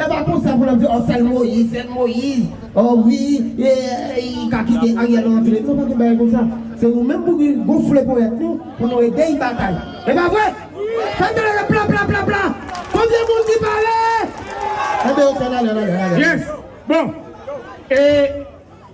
Epa konsa pou nap di oh sèl moyiz sèl moyiz oh wi li ka kite ariel rantre non pa gen bagay konsa se nou menm pou nou gonfle ponyèt nou pou nou ede yi batay epa vre fèm tande yon plaplaplapla konbyen moun ki pare enben ok nale nale nale yes bon e.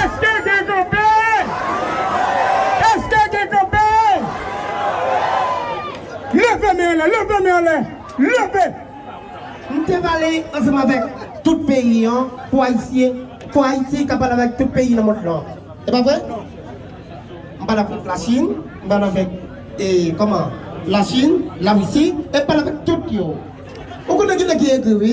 Eske gen kanpe? Eske gen kanpe? Leve men anlè, leve men anlè, leve! M te pale ansanm avèk tout peyi an pou Ayisyen, pou Ayiti ka pale avèk tout peyi nan mond lan. E pa vre? M pale avèk Lachin, m pale avèk e kòman? Lachin, Larisi, e m pale avèk tout yo. Ou konnen ki nèg ki egri wi.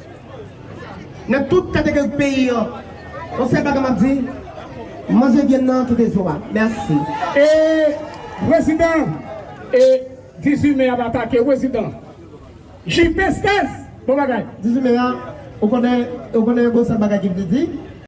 Nan tout kategori peyi an. Yon sèl bagay map di, manje vyann nan kite zo a. Merci. E prezidan e 18 me ap atake prezidan JP 16 bon bagay. 18 me a ou konnen ou konnen gon sèl bagay ki vle di.